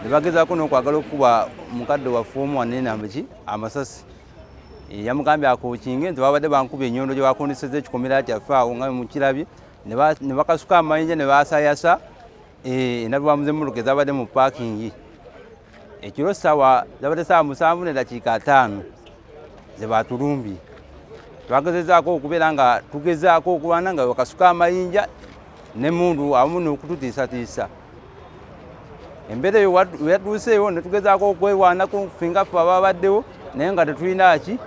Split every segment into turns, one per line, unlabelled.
nebagezaako n'okwagala okukuba mukadde waffe omu wanenambiki amasasi eh, yamugambye akokinge nti babadde bankuba enyondo gye bakondeseza ekikomera kyaffe awo nga mukirabye ne bakasuka amayinja ne basayasa eh, enabibwamu z'emmotoka ezabadde mu paakingi ekiro sawa zabadde sawa musanvu nedakiika ataano zebatulumbi twagezezaako okubeera nga tugezaako okulwana nga wakasuka amayinja nemundu awamu nokututiisatiisa embeera eyo weyatuuseewo netugezaako okwewaanako fingaffe ababaddewo naye nga tetulina ki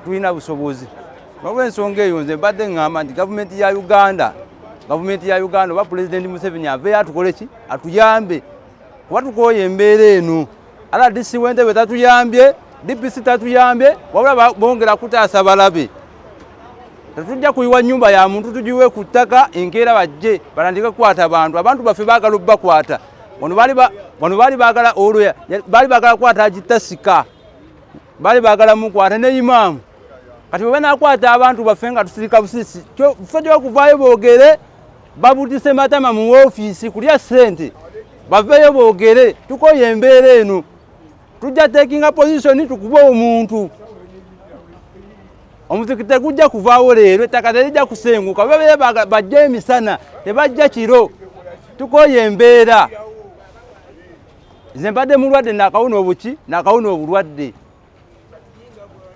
tulina busobozi nolwensonga eyo nze mbadde ŋŋamba nti gavumenti ya uganda gavumenti ya uganda oba pulezidenti museveni aveyo atukoleki atuyambe kuba tukooye embeera eno rdc wentebe tatuyambye dpc tatuyambye wabula bongera kutaasa balabe tetujja kuyiwa nyumba ya muntu tugiwe ku ttaka enkeera bajje balandike kukwata bantu abantu baffe baagala obubakwata wano baali baagala olwoya baali baagala kukwata agitasika baali baagala mukwata ne imaamu kati bwe banakwata abantu baffe nga tusirika busisi ffe gyokuvaayo boogere babutise matama mu ofiisi kulya ssente baveeyo boogere tukoye embeera eno tujja tekinga positioni tukuba omuntu omuziki tegujja kuvaawo leero ettaka terijja kusenguka babeere bajja emisana tebajja kiro tukoye embeera nze mbadde mulwadde nakawuna obuki nakawuna obulwadde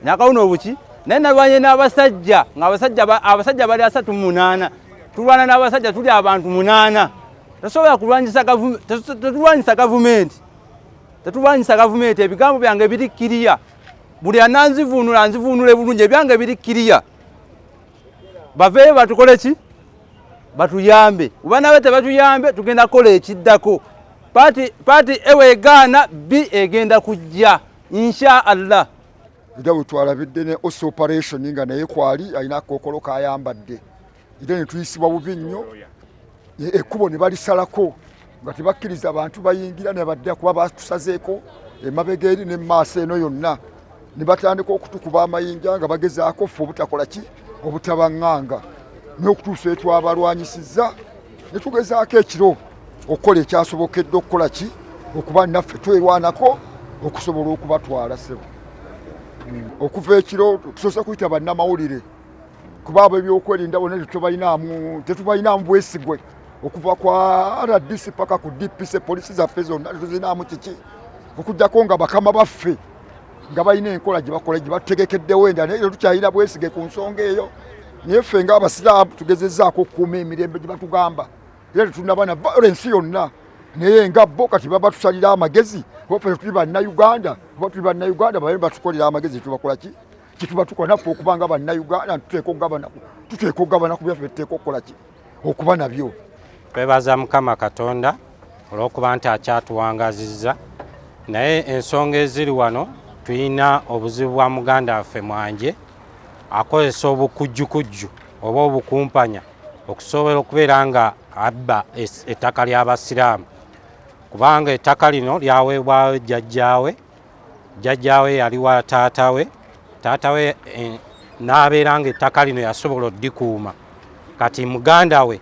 nakawuna obuki naye nalwanye n'abasajja ngaabasajja bali asatu munaana tulwana n'abasajja tuli abantu munaana tosobola kulwanyisa tetulwanyisa gavumenti tetulwanyisa gavumenti ebigambo byange biri kiriya buli ananzivuunula nzivuunule bulungi ebyange biri kiriya baveeyo batukole ki batuyambe oba nabe tebatuyambe tugenda kukola ekiddako paati ewegaana bi egenda kujja insha allah era
wetwalabidde ne osi operation nga naye kwali alina akokolo kayambadde era netuyisibwa bubi nnyo ekkubo ne balisalako nga tebakkiriza bantu bayingira ne badda kuba batusazeeko emabega eri ne maaso eno yonna ne batandika okutukuba amayinja nga bagezaako ffe obutakola ki obutabaŋŋanga n'okutuusa etwabalwanyisizza netugezaako ekiro okukola ekyasobokedde okukola ki okuba naffe twerwanako okusobola okubatwala sebo hmm. okuva ekiro tusoose kuyita bannamawulire kuba abo ebyokwerinda bona tetubalinamu bwesigwe okuva kwa rdc paka ku dpc polisi zaffe zonna tetuzinaamu kiki okugjako nga bakama baffe nga balina enkola gye bakola gye batutegekeddewo endala naye tetukyayira bwesige ku nsonga eyo naye ffe nga abasiraamu tugezezzaako okukuuma emirembe gye batugamba era tetunabana violensi yonna naye nga bo kati baba tusalira amagezi kuba ffe tetuli bannayuganda kuba tuli bannayuganda babe batukolera amagezi tubakola ki kyetuba tukola naffe okuba nga bannayuganda tuteeka okugabana ku byaffe tuteeka okukola ki okuba nabyo. Twebaza Mukama
Katonda olw'okuba nti akyatuwangazizza naye ensonga eziri wano tulina obuzibu bwa muganda waffe mwanje akozesa obukujjukujju oba obukumpanya okusobola okubeera nga abba ettaka ly'abasiraamu kubanga ettaka lino lyaweebwayo jjajjaawe jjajjaawe yali wa taata we taata we eh, n'abeera nga ettaka lino yasobola oddikuuma kati muganda we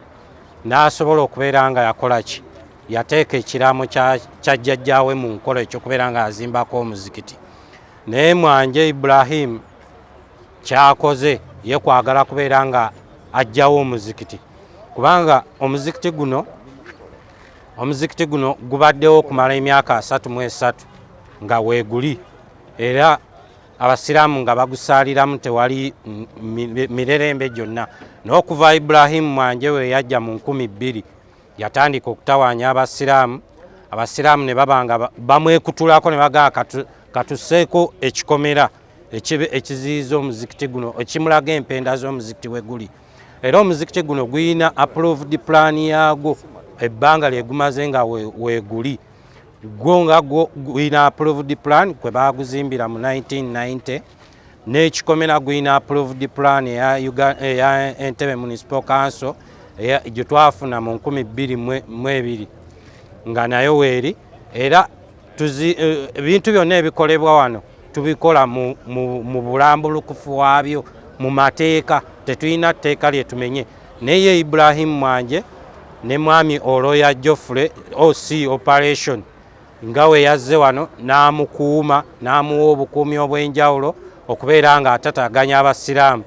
n'asobola okubeera nga yakola ki yateeka ekiraamo kya jjajjaawe mu nkola ekyokubeera nga azimbako omuzikiti naye mwanje ibulahimu kyakoze ye kwagala kubeera nga ajjawo omuzikiti kubanga omuzikiti guno Omuzikiti guno gubaddewo okumala emyaka asatu mu esatu nga weeguli era abasiraamu nga bagusaaliramu tewali mirerembe gyonna n'okuva ibulahimu mwanje we yajja mu nkumi bbiri yatandika okutawaanya abasiraamu abasiraamu ne baba nga bamwekutulako ne bagaa katuseeko ekikomera ekiziyiza omuzikiti guno ekimulaga empenda z'omuzikiti we guli era omuzikiti guno guyina approved plan yagwo ebbanga lyegumaze nga weguli gwo nga gwo guyina approved plan kwe baguzimbira mu 1990 n'ekikomera guyina approved plan eya entebe municipal council gye twafuna mu 222 nga nayo weeri era Eh, ebintu byonna ebikolebwa wano tubikola mu bulambulukufu waabyo mu mateeka tetulina tteeka lyetumenye naye ibrahim mwanje ne mwami oloya joffrey oc operation nga we yazze wano n'amukuuma n'amuwa obukuumi obw'enjawulo okubeera nga atataganya abasiraamu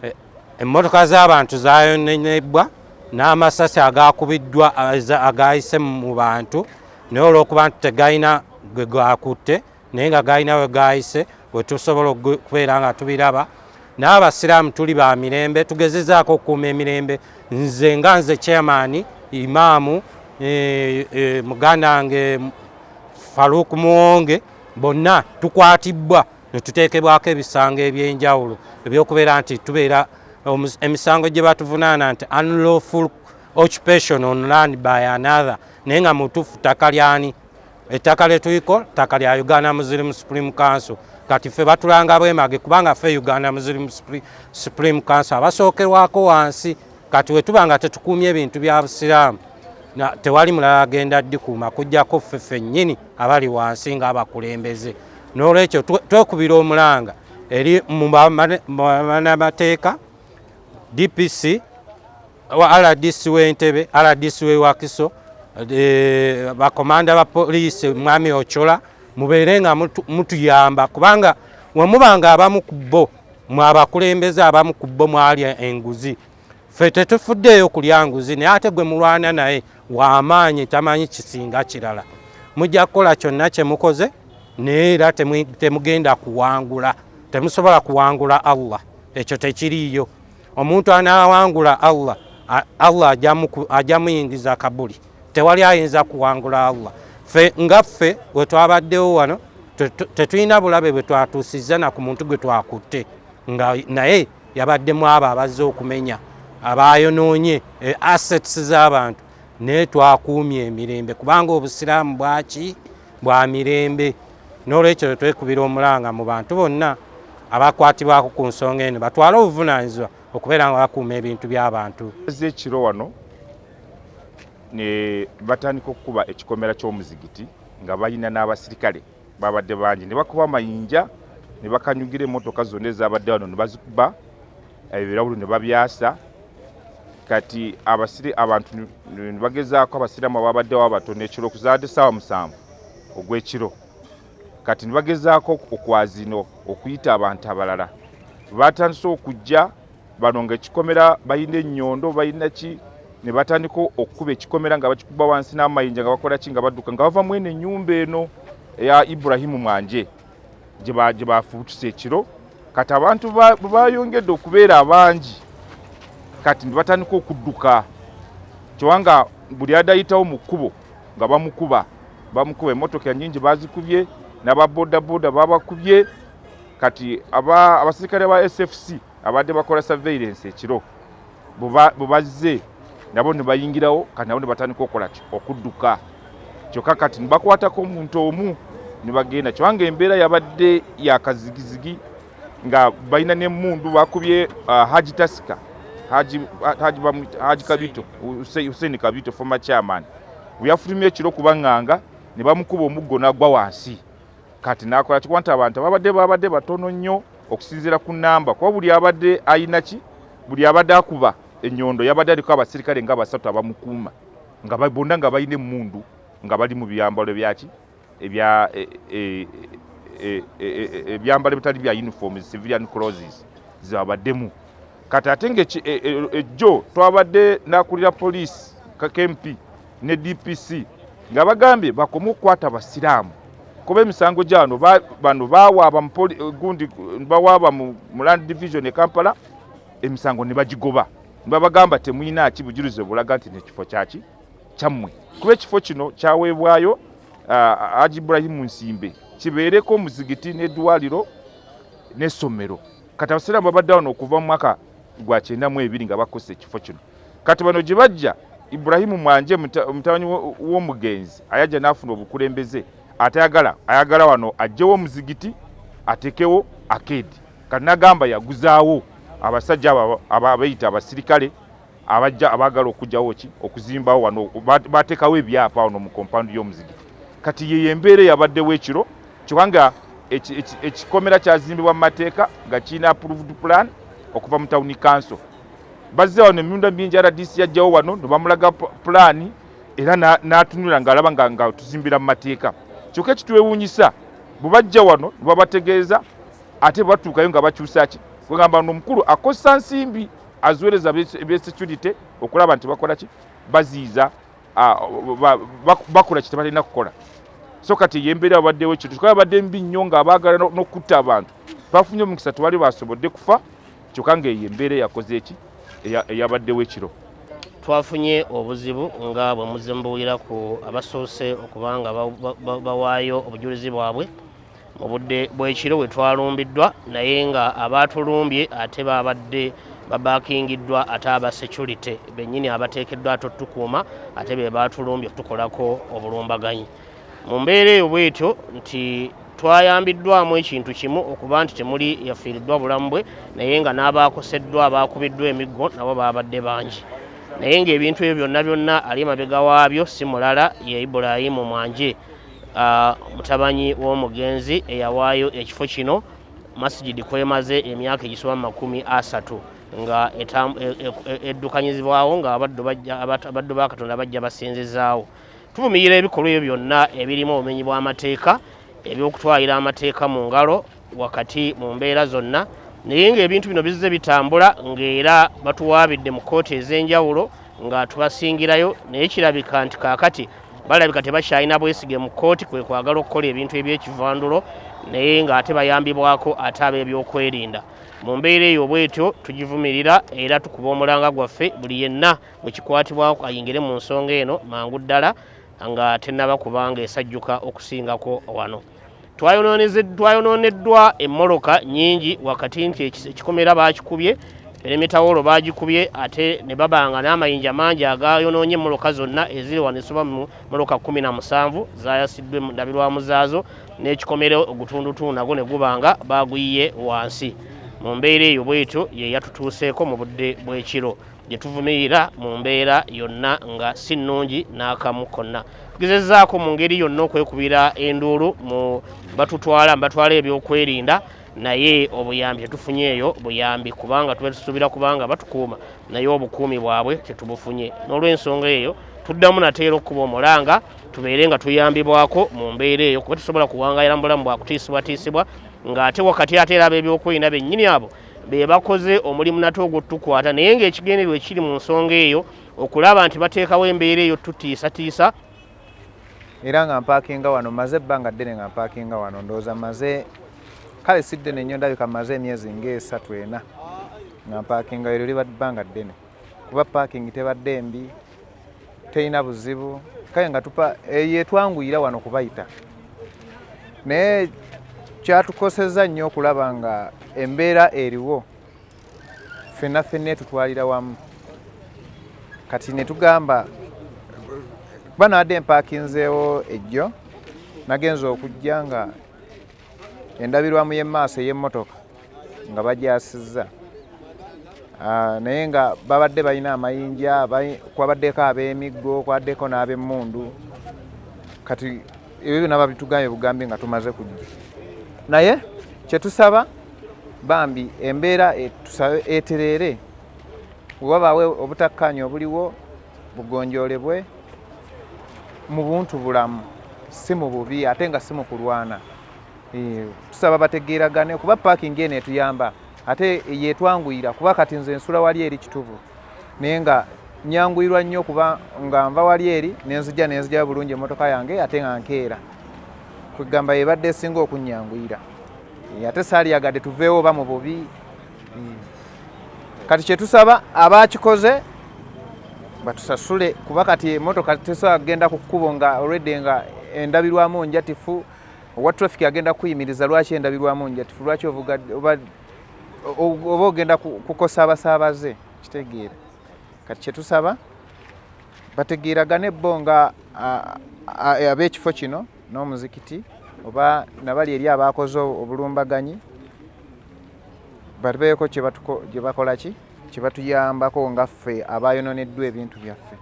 eh, emmotoka z'abantu zayonenebbwa n'amasasi agakubiddwa eh, agayise mu bantu naye olwokuba nti tegalina gwe gakutte naye nga galina we gayise wetusobola okubeera nga tubiraba naye abasiraamu tuli ba mirembe tugezezaako okukuuma emirembe nze nga nze chairman imaamu e, e, muganda wange faruuk muwonge bonna tukwatibbwa netuteekebwako ebisango ebyenjawulo ebyokubeera nti tubeera emisango gye batuvunaana nti unlawful occupation on land by another naye nga mutuufu ttaka lyani ettaka lyetuyiko ttaka lya uganda muslim supreme council kati ffe batulanga bwemage kubanga ffe uganda muslim supreme council abasookerwako wansi kati wetuba nga tetukuumye ebintu bya busiraamu tewali mulala agenda dikuuma kujjako ffe ffennyini abali wansi ngaabakulembeze n'olwekyo twekubira omulanga eri mubanamateeka dpc wa rdc w'entebe rdc w'e wakiso eh, bakomanda ba poliisi mwami ocola mubeere nga mutuyamba kubanga wemuba nga abamu ku bo mwabakulembeze abamu ku bo mwalya enguzi ffe tetufuddeeyo kulya nguzi naye ate gwe mulwana naye wamaanyi tamanyi kisinga kirala mujja kukola kyonna kye mukoze naye era temugenda kuwangula temusobola kuwangula allah ekyo tekiriiyo omuntu anawangula allah allah ajja muyingiza kabuli tewali ayinza kuwangula allah fe nga ffe wetwabaddewo wano tetulina bulabe bwetwatuusizza na ku muntu gwe twakutte nga naye yabaddemu abo abazze okumenya abayonoonye e, assets z'abantu naye twakuumye emirembe kubanga obusiraamu bwaki bwa mirembe n'olwekyo twekubira omulanga mu bantu bonna abakwatibwako ku nsonga eno batwale obuvunaanyizibwa okubeera nga bakuuma ebintu by'abantu azze ekiro wano
ne batandika okukuba ekikomera ky'omuzigiti nga balina n'abasirikale babadde bangi ne bakuba amayinja ne bakanyugira emmotoka zonna ezabadde wano ne bazikuba ebirabulu ne babyasa kati abasiri abantu nibagezaako abasiraamu ababaddewo abatono ekiro okuzaadde saawa musanvu ogw'ekiro kati nibagezaako okwazino okuyita abantu abalala batandise okujja bano nga ekikomera balina ennyondo balina ki ne batandika okukuba ekikomera nga bakikuba wansi n'amayinja nga bakola ki nga badduka nga bava mwene ennyumba eno eya iburahimu mwanje gye baafubutuse ekiro kati abantu bwe bayongedde okubeera abangi kati ne batandika okudduka kyewanga buli adayitawo mu kkubo nga bamukuba bamukuba emmotoka nyingi bazikubye n'ababodaboda babakubye kati abaserikale ba sfc abadde bakola surveillance ekiro bubazze nabo ne bayingirawo kati nabo ne batandika okukola ki okudduka kyokka kati ne bakwatako omuntu omu ne bagenda kibanga embeera yabadde yakazigizigi nga balina n'emmundu bakubye uh, haji tasika haji, haji, haji kabito hussein kabito former chairman weyafulumye ekiro kubanganga ne bamukuba omuggo n'agwa wansi kati nakola kikuba nti abantu ababadde babadde batono nnyo okusinziira ku namba kuba buli abadde ayina ki buli abadde akuba enyondo yabadde aliko abasirikale nga basatu abamukuuma nga bonna nga balina emundu nga bali mu byambalo byaki ebyambalo ebitali bya uniforms civilian croses zabaddemu kati ate nga e, e, ejjo twabadde nakulira poliisi kmp ne dpc nga bagambye bakome okukwata basiraamu kuba emisango gyano bano bawaaba gundi bawaaba mu land division e kampala emisango ne bagigoba nibabagamba temulina ki bujulizi obulaga nti nekifo kyaki kyammwe kuba ekifo kino kyaweebwayo uh, aji ibrahimu nsimbe kibeereko omuzigiti n'eddwaliro n'essomero kati abasiraamu babadde wano okuva mu mwaka gwa kyenda mu ebiri nga bakozesa ekifo kino kati bano gye bajja ibrahimu mwanje omutabanyi w'omugenzi ayajja n'afuna obukulembeze atayagala ayagala wano ajjewo omuzigiti atekewo akedi kati nagamba yaguzaawo abasajja abo abayita abasirikale abajja abaagala okujjawo ki okuzimbawo wano bateekawo ebyapa wano mu kompawundi y'omuzigiti kati yeyo embeera eyabaddewo ekiro kyoka nga ekikomera kyazimbibwa mu mateeka nga kirina approved plan okuva mu tawuni kanso bazze wano emirundi mingi rdc yajjawo wano nebamulaga pulaani era n'atunula ng'alaba nga tuzimbira mu mateeka kyokka ekitwewuunyisa bwe bajja wano nebabategeeza ate bwe batuukayo nga bakyusa ki kwegamba nomukulu akozesa nsimbi as well as ebesecurity okulaba nti bakola ki baziiza ah, bakola kye tebalina kukola so kati eyembeera babaddewo ekintu kyoka babadde mbi nnyo nga abaagala n'okutta abantu bafunye omukisa tewali basobodde kufa kyoka nga eyo embeera eyakoze eki eyabaddewo ekiro twafunye
obuzibu nga bwe muzze mubuwulira ku abasoose okubanga bawaayo obujulizi bwabwe mu budde bw'ekiro we twalumbiddwa naye nga abaatulumbye ate baabadde babakingiddwa ate aba security bennyini abateekeddwa ate otukuuma ate be baatulumbye okutukolako obulumbaganyi mu mbeera eyo bwetyo nti twayambiddwamu ekintu kimu okuba nti temuli yafiiriddwa bulamu bwe naye nga n'abaakoseddwa abaakubiddwa emiggo nabo baabadde bangi naye ng'ebintu ebyo byonna byonna ali emabega waabyo si mulala ye ibulayimu mwanje Uh, mutabanyi w'omugenzi eyawaayo ekifo kino masigidi kwemaze emyaka egisoba mu makumi asatu nga e, e, e, eddukanyizibwawo nga abaddu ba katonda bajja basinzizaawo tuvumirira ebikolwa ebyo byonna ebirimu obumenyi bw'amateeka eby'okutwalira amateeka mu ngalo wakati mu mbeera zonna naye ng'ebintu bino bizze bitambula ng'era batuwaabidde mu kkooti ez'enjawulo nga tubasingirayo naye kirabika nti kaakati balabika tebakyalina bwesige mu kkooti kwe kwagala okukola ebintu eby'ekivandulo naye ng'ate bayambibwako ate ab'ebyokwerinda mu mbeera eyo bwetyo tugivumirira era tukuba omulanga gwaffe buli yenna bwe kikwatibwako ayingire mu nsonga eno mangu ddala nga tennaba kubanga esajjuka okusingako wano twayonooneddwa emmoloka nyingi wakati nti ekikomera baakikubye eremetawolo baagikubye ate ne babanga n'amayinja mangi agayonoonye emmoloka zonna eziri wano esoba mu moloka kumi na musanvu zaayasiddwa endabirwamu zaazo n'ekikomera ogutundutundu nagwo ne guba nga baaguyiye wansi mu mbeera eyo bwetyo ye yatutuuseeko mu budde bw'ekiro gye tuvumirira mu mbeera yonna nga si nnungi n'akamu konna tugezezaako mu ngeri yonna okwekubira enduulu mu batutwala mbatwala ebyokwerinda naye obuyambi tetufunye eyo buyambi kubanga tuba tusuubira kubanga batukuuma naye obukuumi bwabwe tetubufunye n'olwensonga eyo tuddamu nateera okukuba omulanga tubeere nga tuyambibwako mu mbeera eyo kuba tusobola kuwangayira mu bulamu bwakutiisibwatiisibwa ng'ate wakati ate era ab'ebyokwerinda bennyini abo be bakoze omulimu nate ogwotukwata naye ngaekigendererwa ekiri mu nsonga eyo okulaba nti bateekawo embeera eyo tutiisatiisa
era nga mpaakinga wano maze ebbanga ddene nga mpaakinga wano ndowooza maze kale si ddene nnyo ndabika maze emyezi ngaesatu ena nga mpaakinga ero liba bbanga ddene kuba parking tebadde mbi terina buzibu kale nga tupa yetwanguyira wano kubayita naye kyatukoseza nnyo okulaba nga embeera eriwo fenna fenna etutwalira wamu kati netugamba kuba naadde empakinzeewo ejjo nagenza okujja nga endabirwamu y'emaaso ey'emmotoka nga bagyasizza ah, naye nga babadde balina amayinja kwabaddeko ab'emiggo kwabaddeko n'ab'emmundu kati ebyo byona babitugambye bugambi nga tumaze kujja naye kyetusaba bambi embeera e, tusabe etereere wewabaawo obutakkaanya obuliwo bugonjoolebwe mu buntu bulamu si mu bubi ate nga si mu kulwana Eh, tusaba bategeeragane kuba parking eno etuyamba ate yetwanguyira kuba kati nze nsula wali eri kitubu naye nga nyanguyirwa nnyo kuba nga nva wali eri nenzija nenzija bulungi emotoka yange ate nga nkeera kwegamba yebadde esinga okunyanguyira eh, ate saaliyagadde tuveewo oba mu bubi hmm. kati kyetusaba abakikoze batusasule kuba kati emotoka tesobola kugenda ku kkubo nga olwedde nga endabirwamu njatifu owa traffic agenda kuyimiriza lwaki endabirwamu njatifu lwaki ovuga oba oba ogenda kukosa abasaabaze kitegeera kati kyetusaba bategeeragane bo nga ab'ekifo kino n'omuzikiti oba nabali eri abaakoze obulumbaganyi babeeko kyebakolaki kyebatuyambako nga ffe abayononeddwa ebintu byaffe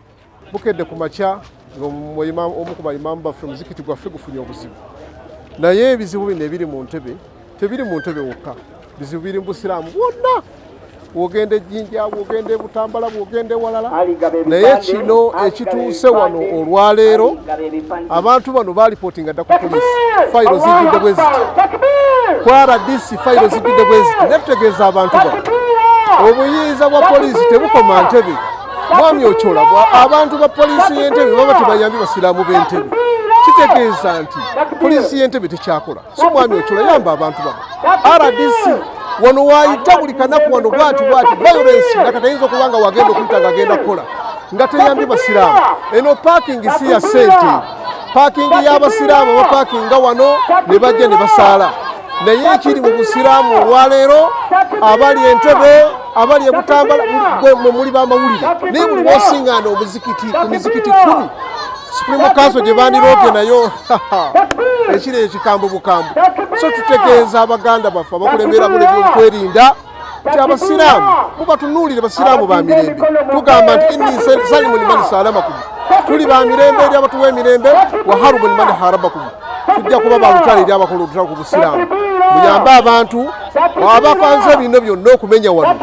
bukedde ku
makya ng'omu ku baimaamu baffe omuzikiti gwaffe gufunye obuzibu naye ebizibu bino ebiri mu ntebe tebiri mu ntebe wokka bizibu biri mu busiraamu bwonna bwogenda ejjinja bwogenda ebutambala bwogenda ewalala naye kino ekituuse wano olwaleero abantu bano balipootinga dda ku polisi fayiro zijjudde bwe ziti ku rdc fayiro zijjudde bwe ziti netutegeeza abantu bano obuyinza bwa polisi tebukoma ntebe mwami ocola abantu ba poliisi y'entebe baba tebayambye basiraamu b'entebe kitegeeza nti poliisi y'entebe tekyakola so mwami ocola yamba abantu bano rdc wano wayita buli kanaku wano bwati bwati violence nga katayinza okuba nga wagenda okuyita nga agenda kukola nga teyambye basiraamu eno parking si ya sente parking y'abasiraamu bapakinga wano ne bajja ne basaala naye ekiri mu busiraamu olwaleero abali entebe abali ebutambala mwe muli bamawulire naye buli wosingaana omuzikiti ku mizikiti kumi supreme council gye bandirooge nayo ekiri ekikambo bukambo so tutegeeza abaganda baffe abakulembera buli byokwerinda nti abasiraamu mubatunuulire basiraamu ba mirembe tugamba nti inni salimu nimani salamakum tuli ba mirembe eri abatuwa emirembe waharubu nimani harabakum tujja kuba balutale eri abakola olutalo ku busiraamu muyambe abantu abapanze bino byonna okumenya wano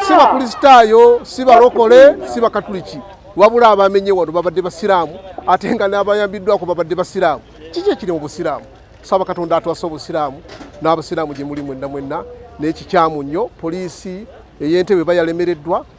si bakristaayo si balokole si bakatuliki wabula abamenye wano babadde basiraamu ate nga n'abayambiddwako babadde basiraamu kiki ekiri mu busiraamu saba katonda atwasa obusiraamu n'abasiraamu gye muli mwenna mwenna n'ekikyamu nnyo poliisi ey'entebe bayalemereddwa